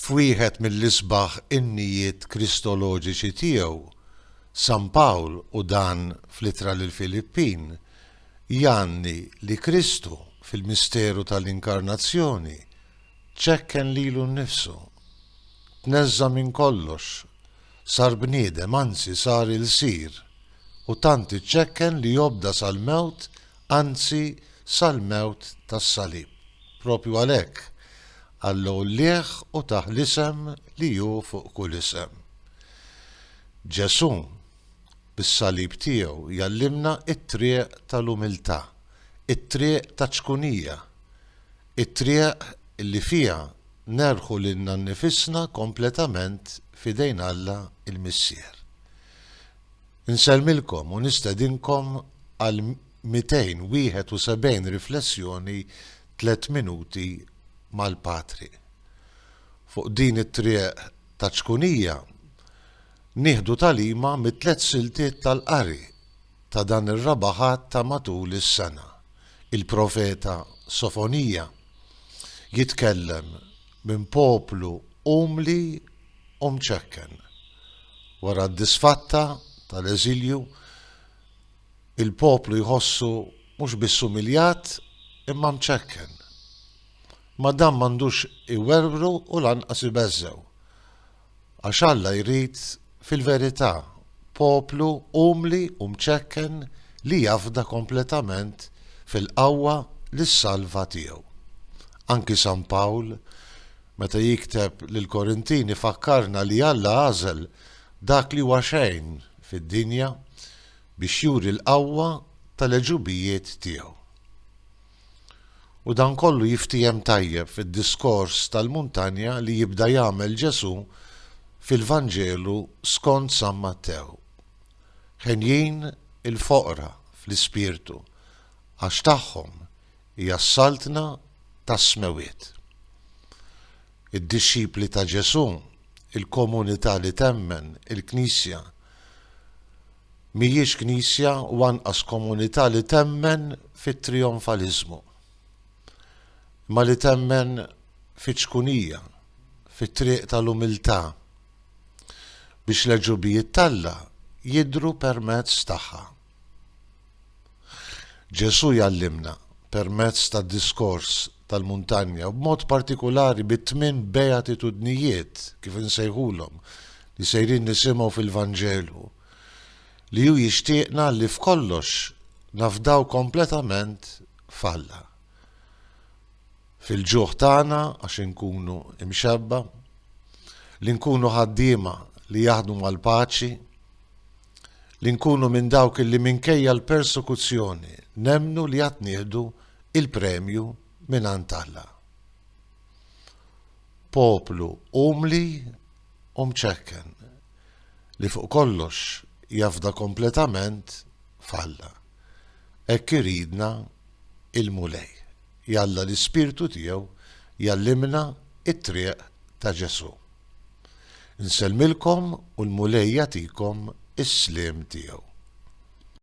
F'wieħed mill-isbaħ innijiet kristoloġiċi tiegħu, San Pawl, u dan fl-Ittra lill-Filippin, jgħanni li Kristu, fil-misteru tal-Inkarnazzjoni, ċekken lilu nnifsu. Tneżża' minn kollox, sar bniedem, anzi sar ilsir, u tant iċċekken li obda sal-mewt, anzi sal-mewt tas-salib. Propju għalhekk, Alla għollieh u tah l-isem li hu fuq kull isem. Ġesù, bis-salib tiegħu, jgħallimna t-triq tal-umiltà, it-triq taċ-ċkunija, it-triq li fiha nerħu lilna nnifisna kompletament f'idejn Alla l-Missier. Insellmilkom u nistedinkom għal 271 riflessjoni tliet minuti mal-Patri. Fuq din it-triq ta' ċkunija nieħdu tagħlima mit-tliet siltiet tal-qari ta' dan ir-raba' Ħadd ta' matul is-sena. Il-profeta Sofonija jitkellem minn poplu umli u mċekken. Wara d-disfatta tal-eżilju, il-poplu jħossu mhux biss umiljat imma mċekken. Imma dan m'għandux iwerwru u lanqas ibeżżgħu. Għax Alla jrid, fil-verità, poplu umli u mċekken li jafda kompletament fil-qawwa li ssalva tiegħu. Anki San Pawl, Meta jikteb lill-Korintini fakkarna li Alla għażel dak li huwa xejn fid-dinja biex juri l-qawwa tal-għeġubijiet tiegħu. U dan kollu jiftiehem tajjeb fid-diskors tal-muntanja li jibda jagħmel Ġesù fil-Vanġelu skont San Mattew. Henjin il-foqra fl-ispirtu għax tagħhom hija s-Saltna tas-Smewwiet. Id-dixxipli ta' Ġesù, il-komunità li temmen, il-Knisja, mhijiex Knisja u anqas komunità li temmen fit-trijonfaliżmu, imma li temmen fiċ-ċkunija, fit-triq tal-umiltà, biex l-għeġubijiet t'Alla jidhru permezz tagħha. Ġesù jgħallimna permezz tad-diskors tal-muntanja u b'mod partikulari bit-tmien beatitudnijiet, kif insejħulhom, li sejrin nisimgħu fil-Vanġelu, li hu jixtieqna li f'kollox nafdaw kompletament f'Alla. Fil-ġuħ tagħna, għax inkunu imxebba, li nkunu ħaddiema li jaħdmu mal-paċi, Li nkunu minn dawk illi minkejja l-persekuzzjoni nemmnu li għad nieħdu il-premju mingħand Alla. Poplu umli u mċekken li fuq kollox jafda kompletament f'Alla. Hekk iridna il-Mulej. Jalla l-Ispirtu tiegħu jgħallimna t-triq ta' Ġesù. Nsellmilkom u l-Mulej jagħtikom is-sliem tiegħu.